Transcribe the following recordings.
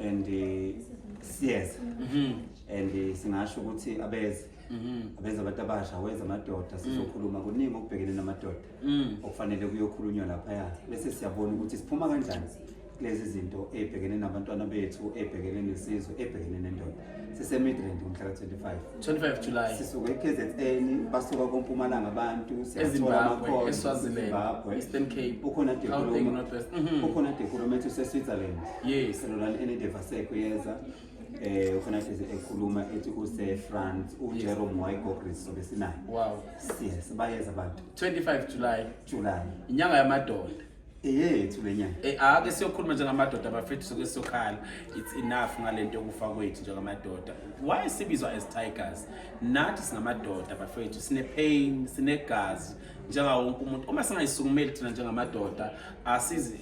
and siyeza mhm. and singasho ukuthi abeze mhm. abeze abantu abasha weza amadoda mm. sizokhuluma kuningi okubhekene namadoda mm. okufanele kuyokhulunywa laphaya bese siyabona ukuthi siphuma kanjani kulezi zinto ey'bhekene nabantwana bethu ey'bhekene nesizwe ey'bhekene nendoda sisemidland umhla ka-25 25 july sisuka e-kzn basuka kompumalanga abantu siyatholamakhonaeastern cape ukhona dekhulomaukhona dekhuloma ethi useswitzerland yes lolani enedevaseko yeza eh ukhona hlezi ekhuluma ethi use France u Jerome Moiko Chris sobe sinayo wow yes bayeza abantu 25 July July inyanga yamadoda eyethu le nyanga Eh, ake siyokhuluma njengamadoda bafethu soke siyokhala it's enough ngale nto yokufa kwethu njengamadoda why sibizwa as tigers nathi singamadoda bafethu sine-pain sinegazi njengawo wonke umuntu uma singayisukumeli thina njengamadoda asizi-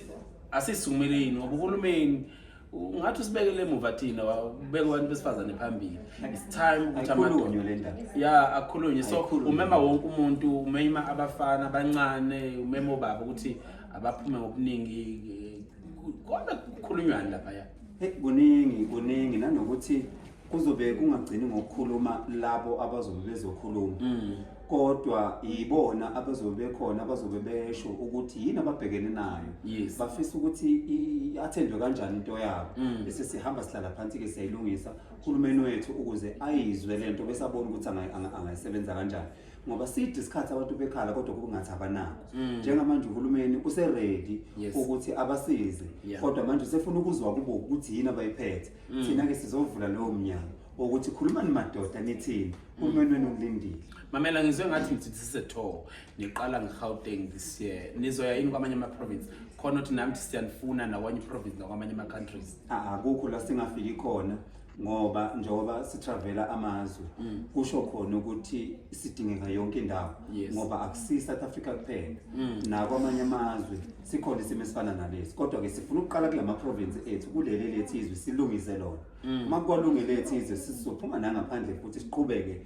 asisukumeli yini ngoba uhulumeni ungathi usibekele emuva thina ubeke abantu besifazane phambili it's time ukuthi amakhulunywe le ndaba ya akhulunywe so umema wonke umuntu umema abafana abancane umema obaba ukuthi abaphume ngobuningi kodwa kukhulunywani lapha ya kuningi kuningi nanokuthi kuzobe kungagcini ngokukhuluma labo abazobe bezokhuluma mm. kodwa yibona abazobe bekhona abazobe besho ukuthi yini ababhekene nayo yes. bafisa ukuthi athendwe kanjani into yabo mm. bese sihamba sihlala phansi-ke siyayilungisa uhulumeni wethu ukuze ayizwe le nto bese abone ukuthi angayisebenza kanjani ngoba side isikhathi abantu bekhala kodwa kungathi abanako mm. njengamanje uhulumeni useredi yes. ukuthi abasize yes. kodwa manje usefuna ukuzwa kubo ukuthi yini abayiphethe Mm. thina ke sizovula lowo mnyango wokuthi khulumani madoda nithini mm. umenweni ulindile mamela ngizwe ngathi ngithi this is a tour niqala ngegauteng this year nizoya yini kwamanye ama-province khona ukuthi nami thi siyanifuna nakwanye province nakwamanye ama-countries akukho la singafiki khona ngoba njengoba sitravela amazwe mm. kusho khona ukuthi sidingeka yonke indawo ngoba akusiyi-south africa kuphela nakwamanye amazwe sikhona isimo esifana nalesi kodwa ke sifuna ukuqala kulama province ethu kuleli lethi izwe silungise lona mm. uma kwalungele lethi izwe sizophuma nangaphandle futhi siqhubeke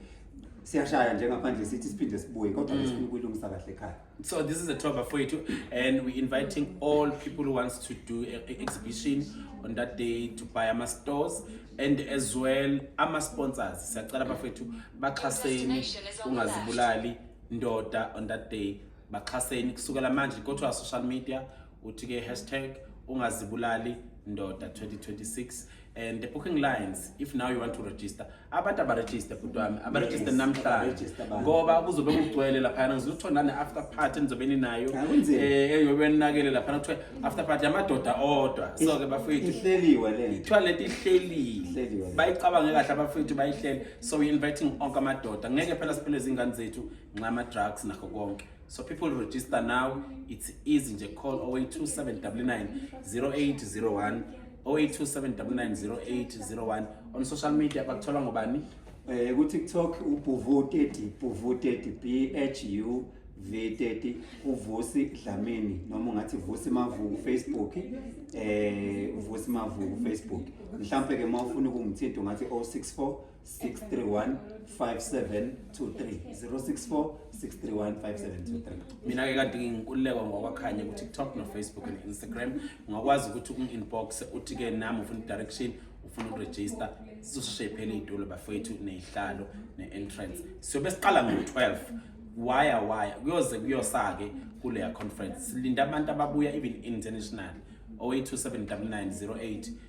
siyashaya nje ngaphandle sithi siphinde sibuye kodwa mm. sifuna ukuyilungisa kahle ekhaya so this is a tour for you and we inviting all people who wants to do a, a exhibition on that day to buy ama stores and as well ama sponsors siyacela bafethu baxhaseni ungazibulali ndoda on that day baxhaseni kusukela manje go to our social media uthi ke hashtag ungazibulali ndoda 2026 and the booking lines if now you want to register abantu abaregister bhuti wami abaregister namhlanje ngoba kuzobe kugcwele laphayana ngizothiwa nane-after party enizobe ninayo Ah, kunzima. eh, eyobe ninakele laphana kuthiwa after party yamadoda odwa so-ke bafethu ihleliwe le nto kuthiwa lento ihlelile Ihleliwe. bayicabange kahle abafethu bayihlele so we inviting onke amadoda ngeke phela siphele izingane zethu nxama drugs nakho konke so people register now it's easy nje call 082799 0801 0827990801 on social media bakuthola ngobani eh ku TikTok ubhuvu 30 bhuvu 30 b h u V30 uvusi Dlamini noma ungathi vusi mavuku Facebook eh uvusi mavuku Facebook mhlambe ke mawufuna ukungithinta ungathi 064 mina ke kade nginkululekwa ngokwakhanye kutiktok nofacebook ne-instagram ungakwazi ukuthi um-inbox uthi ke nami ufuna i-direction ufuna ukuregister sizosheshe phela iy'tulo bafowethu ney'hlalo ne-entrance siyobe siqala ngo-12 waya waya kuyoze kuyosake kuleya conference silinda abantu ababuya even international 08279908